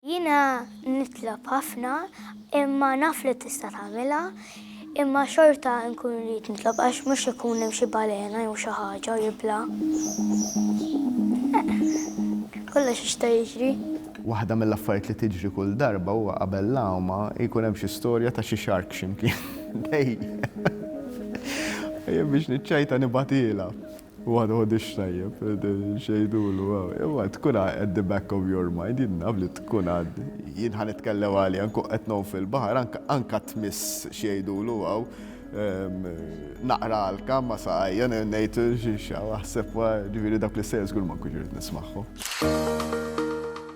Jiena nitlob ħafna imma naf li tista' tagħmilha, imma xorta nkun rrid nitlob għax mhux ikun hemm xi balena jew xi ħaġa u jibla. Kollox jista' jiġri. Waħda mill-affarijiet li tiġri kull darba huwa qabel l-għawma jkun hemm xi storja ta' xi shark x'imkien. Dejjem. Jien biex niċċajta nibgħatilha. Huwa ma jħoddix tajjeb, x'għidulu, imma tkun at the back of your mind, jien naf li tkun għad. Jien ħa nitkellem għalija, nkun qed ngħum fil-baħar, anke tmiss x'għidulu hawn, naqra għalka ma' saqajja, ngħid x'aħseb, jiġifieri dawk l-istejjer żgur ma nkunx irrid nismagħhom.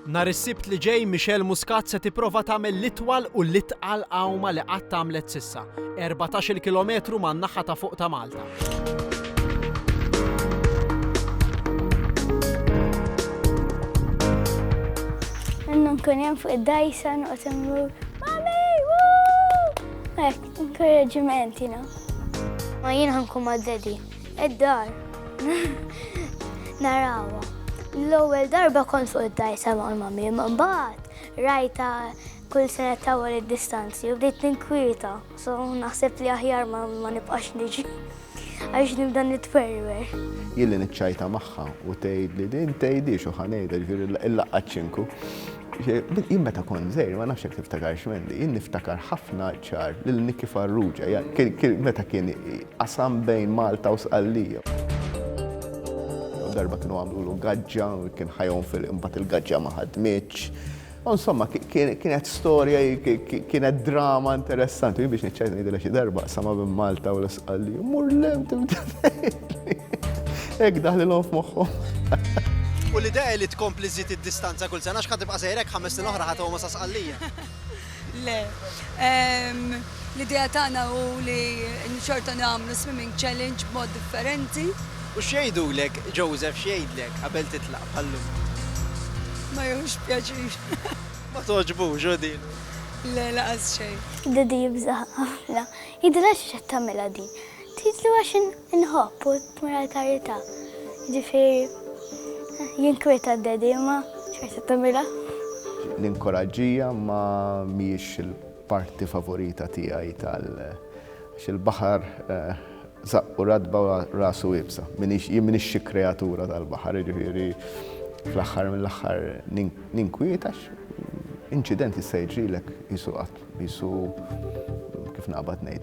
Nhar is-Sibt li ġej Michelle Muscat se tipprova tagħmel l-itwal u l-itqal għawma li qatt għamlet s'issa, erbatax-il kilometru man-naħa ta' fuq ta' Malta. nkun jem fuq id-dajsa noqgħod immur. Mami, wuu! Hekk, inkoraġġiment, you know. Ma jien ħankun ma' daddy. Id-dar. Narawha. L-ewwel darba kont fuq id-dajsa ma' mami, mbagħad rajta kull sena tawwal id-distanzi u bdejt ninkwieta, so naħseb li aħjar ma nibqax niġi għax nibda nitwerwer. Jilli niċċajta magħha u tgħid li din tgħidix u ħanejda ġifieri l-laqgħat ċinku. Jien meta kont żejr ma nafx jekk tiftakarx Mendi, jien niftakar ħafna ċar lil Niki Farrugia, meta kien Qasam bejn Malta u Sqallija. Darba kienu għamlulu gaġġa, kien ħajhom fil imbagħad il-gaġġa ma ħadmitx. U insomma, kienet storja, kienet drama interessanti. Biex niċċajt ngħidilha xi darba, sama minn Malta u l-Isqalli. Mur lem tibda Hekk daħlilhom f'moħħhom. U l-idea li tkompli żid id-distanza kull sena x'ħad tibqa' sejrek ħames snin oħra ħadd sa Sqallija. Le. L-idea tagħna hu li xorta nagħmlu swimming challenge b'mod differenti. U x'jgħidulek, Joseph x'jgħidlek qabel titlaq bħal-lum? Ma jieħux pjaċir. Ma togħġbux hu din? Le, laqas xejn. Daddy jibża' ħafna. Jidhirha xiex qed tagħmilha din. Tgħidlu għax in. Inħobb u tmur għall-karità. Jiġifieri jinkwieta d-Daddy imma xorta tagħmilha. L-inkoraġġija ma mhijiex il-parti favorita tiegħi tal għax il-baħar żaqqu ratba u rasu iebsa. M'iniex jien m'iniex xi kreatura tal-baħar, jiġifieri fl-aħħar mill-aħħar ninkwiet għax inċident jista' jiġrilek qisu qatt Qisu kif naqbad ngħid.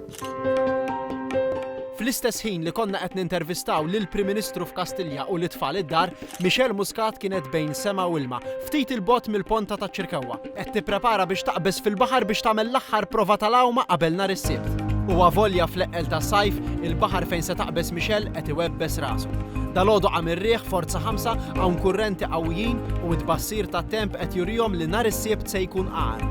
Fl-istess ħin li konna qed nintervistaw lill-Prim Ministru f'Kastilja u lit-tfal id-dar, Michelle Muscat kienet bejn sema u ilma, ftit il-bogħod mill-ponta taċ-Ċirkewwa. Qed tipprepara biex taqbeż fil-baħar biex tagħmel l-aħħar prova tal-għawma qabel nhar is-Sibt. U avolja fl-eqqel tas-sajf, il-baħar fejn se taqbeż Michelle qed iwebbes rasu. Dalgħodu qam ir-riħ forza ħamsa hawn kurrenti qawwijin u t-tbassir tat-temp qed jurihom li nhar is-Sibt se jkun agħar.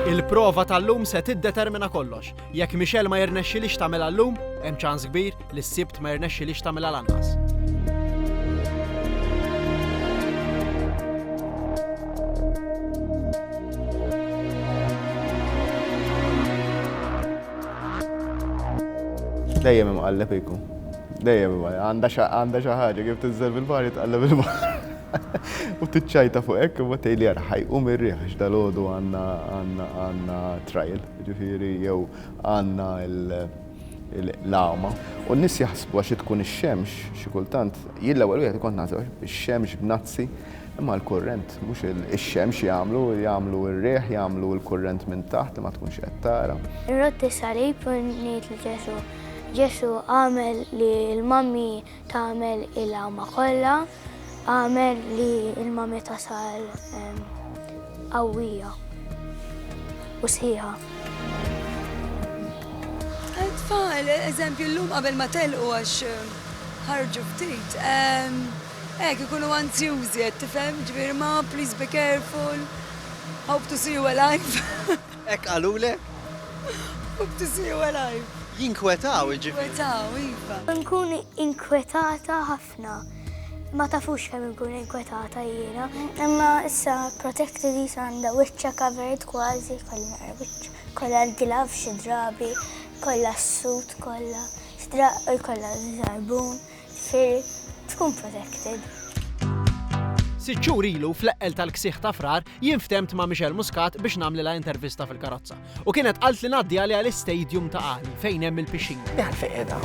Il-prova tal-lum se tiddetermina kollox. Jekk Michelle ma jirnexxilix tagħmilha llum, hemm ċans kbir li s-Sibt ma jirnexxilix tagħmilha lanqas. Dejjem imqalleb iku. Dejjem imqalleb. Għandha xi ħaġa kif tinżel bil-bar jitqalleb il-bar. U tiċċajta fuq hekk imma tgħidli ara ħajqum ir-riħ għax dalgħodu għandna trial, jiġifieri jew għandna l-għama. U n-nies jaħsbu għax tkun ix-xemx xi kultant, jien l-ewwel wieħed kont naħseb ix-xemx b'nazzi imma l-kurrent mhux ix-xemx jagħmlu, jagħmlu r-riħ, jagħmlu l-kurrent minn taħt ma tkunx qed tara. Irrodd is-salib u ngħid lil Ġesù, Ġesù agħmel li l-mammi Tagħmel il-għama kollha, għamel li l-mami tasal qawwija u sħiħa. Tfal, eżempju, l-lum qabel ma telqu għax ħarġu ftit. Ek, ikunu anzjużi, tifhem, ġbir ma, please be careful, hope to see you alive. Hekk qalulek? Hope to see you alive. Jinkwetaw, jiġifieri. Jinkwetaw, iva. Inkun inkwetata ħafna. Ma tafux kemm inkun inkwetata jiena. Imma issa Protective Visa għandha wiċċha covered kważi, kollha naqra wiċċ. Kollha l-gloves xi drabi, kollha s-suit kollha, xi drabi jkollha żarbun. Ser tkun protected. Sitt xhur ilu fl-eqqel tal-ksieħ ta' Frar jien ftemt ma' Michelle Muscat biex nagħmlilha intervista fil-karozza. U kienet qalt li ngħaddi għaliha l-istadium ta' Qali fejn hemm il-pixxin. Jgħal fejn qiegħda.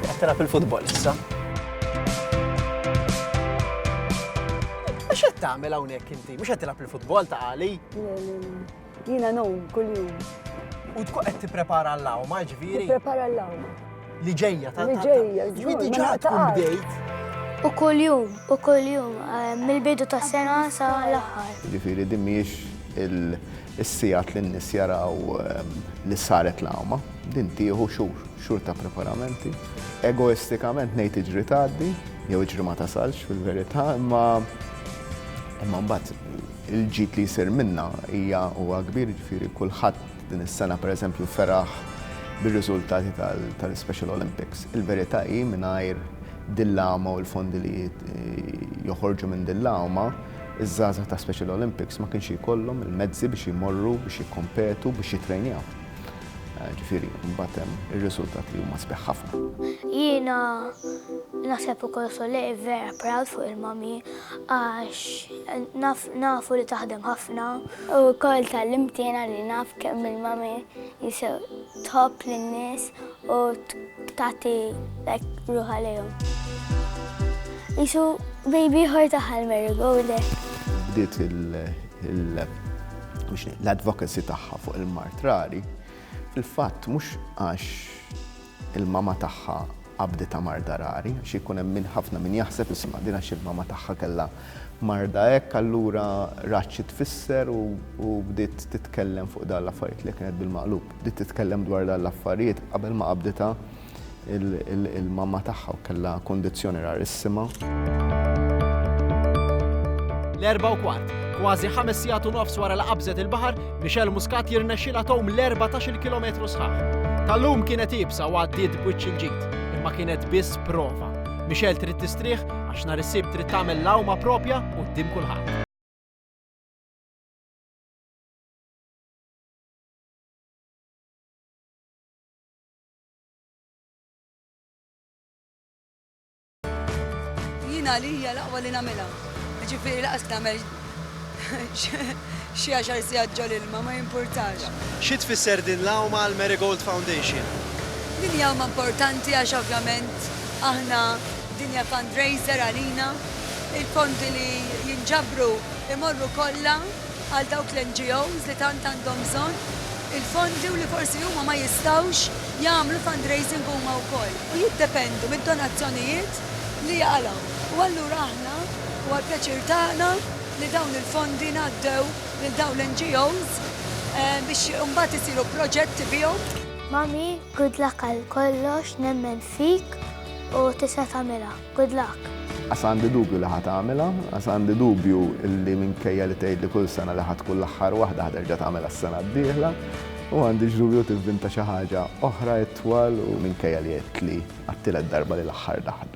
Qed tilgħab il-futbol issa. X'qed tagħmel hawnhekk inti? Mhux qed tilgħab il-futbol ta' Qali? Jiena nom kuljum. U tkun qed tipprepara l-lawma, ġifieri. Tipprepara l-lawma. Li ġejja ta' Li ġejja, ġifieri diġà tkun bdejt. U kuljum, u kuljum, eh, mill-bidu tas sena sa l-aħħar. Ġifieri din mhijiex il-sigħat li n-nies jaraw eh, li saret l-għawma, din tieħu xhur, xhur ta' preparamenti. Egoistikament ngħid iġri tgħaddi, jew iġri ma tasalx fil-verità, imma imma mbagħad Il-ġid li jsir minnha hija huwa kbir, jiġifieri kulħadd din is-sena pereżempju feraħ bir-riżultati tal-Special Olympics. Il-verità hi mingħajr din l-għama u l-fondi li joħorġu minn din l-għama, iż-żgħażagħ ta' Special Olympics ma kienx jkollhom il-mezzi biex jmorru biex jikkompetu, biex jittrejnjaw. Ġifieri mbagħad hemm ir-riżultati li huma sbieħ ħafna. Jiena naħseb ukoll Soleil vera proud fuq il-mommy. Għax nafu li taħdem ħafna. U wkoll tal-imtina li naf kemm il-mami jisew tħobb lin-nies u tagħti ruħa lejhom. Isu baby ħor taħal Mary go there. Bdiet l-advocacy tagħha fuq il-mart rari fil-fatt mhux għax Il-mama tagħha qabditha marda rari, għax ikun hemm min ħafna min jaħseb isma' din għax il-mama tagħha kellha marda hekk allura rat xi tfisser u u bdiet titkellem fuq dan l-affarijiet li kienet bil-maqlub. Bdiet titkellem dwar dan l-affarijiet qabel ma qabditha il-mama tagħha u kellha kundizzjoni rarissima. L-erbgħa u kwart, kważi ħames sigħat u nofs wara li qabżet il-baħar, Michelle Muscat jirnexxilha tgħum l-erbatax-il kilometru sħaħ. Tal-lum kienet iebsa u għaddiet b'wiċċ il-ġid, imma kienet biss prova. Michelle trid tistrieħ għax nhar is-Sibt trid tagħmel l-għawma proprja quddiem kulħadd. Jien għalija l-aqwa li nagħmilha. Ġifieri laqas nagħmel xi għaxar sigħat ġol ilma ma jimpurtax. Xi tfisser din l-għawma għal Marigold Foundation? Din hija għawma importanti għax ovvjament aħna din hija fundraiser għalina. Il-fondi li jinġabru imorru kollha għal dawk l-NGOs li tant għandhom bżonn il-fondi u li forsi huma ma jistgħux jagħmlu fundraising huma wkoll u jiddependu mid-donazzjonijiet li jaqalgħu. U allura aħna huwa l-pjaċir tagħna li dawn il-fondi ngħaddew lil dawn l-NGOs biex imbagħad isiru proġetti bihom. Mommy, good luck għal kollox, nemmen fik u tista' tagħmilha. Good luck! Għas għandi dubju li ħa tagħmilha, għas għandi dubju li minkejja li tgħidli kull sena li ħa tkun l-aħħar waħda ħa terġa' tagħmilha s-sena d-dieħla, u għandix dubju tivvinta xi ħaġa oħra itwal u minkejja li għedtli għat-tielet darba li l-aħħar daħla.